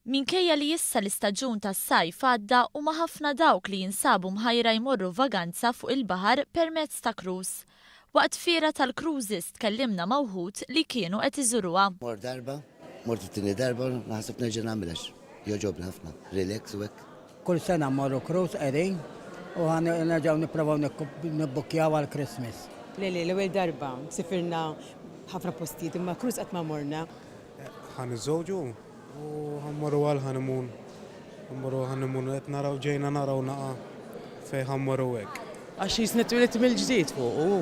Minkejja li issa l-istaġun tas-sajf għadda huma ħafna dawk li jinsabu mħajra jmorru vaganza fuq il-baħar permezz ta' cruise. Waqt fiera tal-cruises tkellimna ma' wħud li kienu qed iżuruha. Mort darba, mort it-tieni darba u naħseb nerġa' nagħmilha għax jogħġobni ħafna, relax u hekk. Kull sena mmorru cruise qegħdin u ħa nerġgħu nipprovaw nibbukkjaw għall-Christmas. Le le, l-ewwel darba, sifirna ħafna postijiet imma cruise qatt ma morna. Ħa niżżewġu u ħa mmorru għall-honeymoon. Mmorru għall-honeymoon qed naraw ġejna naraw naqa' fejn ħa mmorru hekk. Għax jisni twielidt mill-ġdid fuqu hu.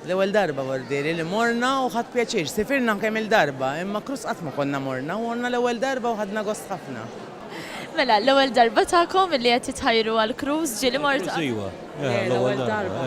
L-ewwel darba Bordieri li morna u ħadt pjaċir. Sifirna anke kemm-il darba, imma Cruz qatt ma konna morna u morna l-ewwel darba u ħadna gost ħafna. Mela, l-ewwel darba tagħkom li qed titħajru għal Cruz ġieli mortu qabel? Cruz iva. L-ewwel darba.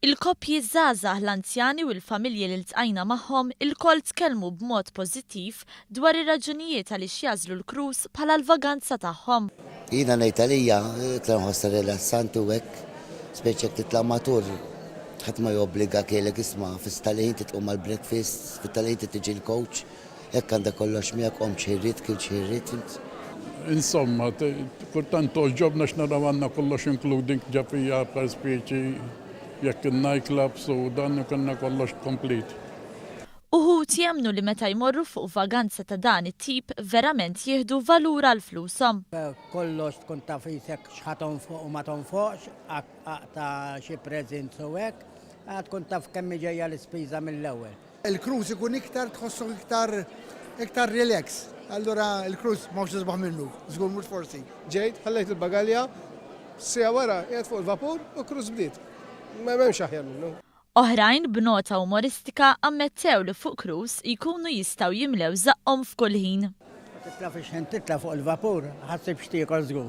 Il-koppji, ż-żgħażagħ, l-anzjani u l-familji li ltqajna magħhom ilkoll tkellmu b'mod pożittiv dwar ir-raġunijiet għaliex jagħżlu l-cruise bħala l-vaganza tagħhom. Jiena ngħid għalija, iktar nħossha rilassanti u hekk, speċi jekk titla' matur, ħadd ma jobbligak jgħidlek isma' fis-setgħa li inti tqum għall-breakfast, fit-ta' li inti tiġi l-coach. Hekk għandha kollox miegħek omm xi rrid kien xi rrid int. Insomma, kultant togħġobni għax nara għandna kollox including ġa fiha per specie jekk in-night clubs u dan ikollna kollox complete. Uħud jemmnu li meta jmorru fuq vaganza ta' dan it-tip verament jieħdu valur għal flushom. Kollox tkun taf qisek x'ħa tonfoq u ma tonfoqx, aqta' xi presents u hekk, tkun taf kemm hi ġejja l-ispiża mill-ewwel. Il-cruise ikun iktar tħossok iktar iktar relax. Allura il-cruise m'hawnx isbaħ minnu, żgur mhux forsi. Ġejt, ħallejt il-bagalja, siegħa wara qiegħed fuq il-vapur u cruise bdiet. M'hemmx aħjar minnu. Oħrajn b'nota umoristika ammettew li fuq cruise jkunu jistgħu jimlew żaqqhom f'kull ħin. Ma titla' fix-xħen titla' fuq il-vapur, ħassib x'tiekol żgur.